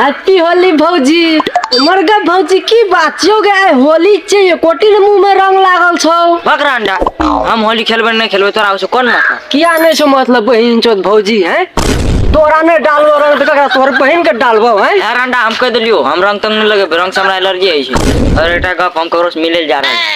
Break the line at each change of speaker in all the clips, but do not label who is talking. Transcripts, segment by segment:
Happy Holi भौजी हमर गे भौजी की बात छियौ गे आइ होली छै एकोटी ने मुंह में रंग लागल छौ बकरा अंडा हम होली खेलबै नहि खेलबै तोरा ओहिसँ कोन मतलब किया नहि छौ मतलब बहिन चोद भौजी हैं तोरा नहि डालबो रंग तऽ ककरा तोहर बहिन के डालबो हैं यार अंडा हम कहि देलियौ हम रंग तंग नहि लगेबै रंगसँ हमरा एलर्जी होइ छै आओर एकटा गप हम ककरोसँ मिलै लए जा रहल छी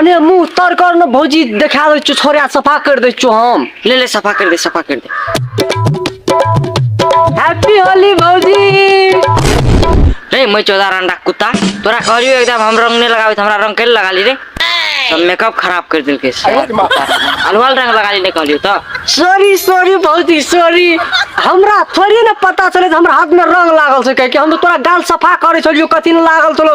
अने मुँह तर कर ने भौजी देखा दै छौ छोड़ा सफा कर दै छौ हम ले ले सफा कर दे सफा कर दे हैप्पी होली भौजी रे मैं चौदह रंडा कुत्ता तोरा कहलियो एकदम हम रंग नहीं लगावे हमरा रंग कैल लगा ली रे सब मेकअप खराब कर दिल के अलवाल रंग लगा ली नहीं कहलियो तो सॉरी सॉरी भौजी सॉरी हमरा थोड़ी ना पता चले हमरा हाथ में रंग लागल छै कह के हम तो तोरा गाल सफा करे छलियो कथी ने लागल छलो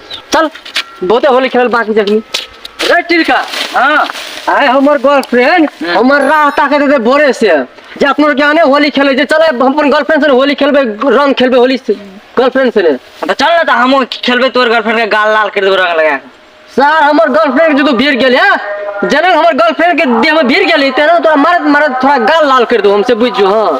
चल बहुते होली खेलल बाकी जखनी रे टिलका हाँ आए हमर गर्लफ्रेंड हमर राह ताके देते बोरे से जे अपनो के आने होली खेले जे चले हम अपन गर्लफ्रेंड से ने होली खेलबे रंग खेलबे होली से गर्लफ्रेंड से ने तो चल ना तो हम खेलबे तोर गर्लफ्रेंड के गाल लाल कर देबो रंग लगा के। सार हमर गर्लफ्रेंड के जो तू भीड़ गेल है जनक हमर गर्लफ्रेंड के देह में भीड़ गेल है तेना तोरा मारत मारत थोड़ा गाल लाल कर दो हमसे बुझ जो हाँ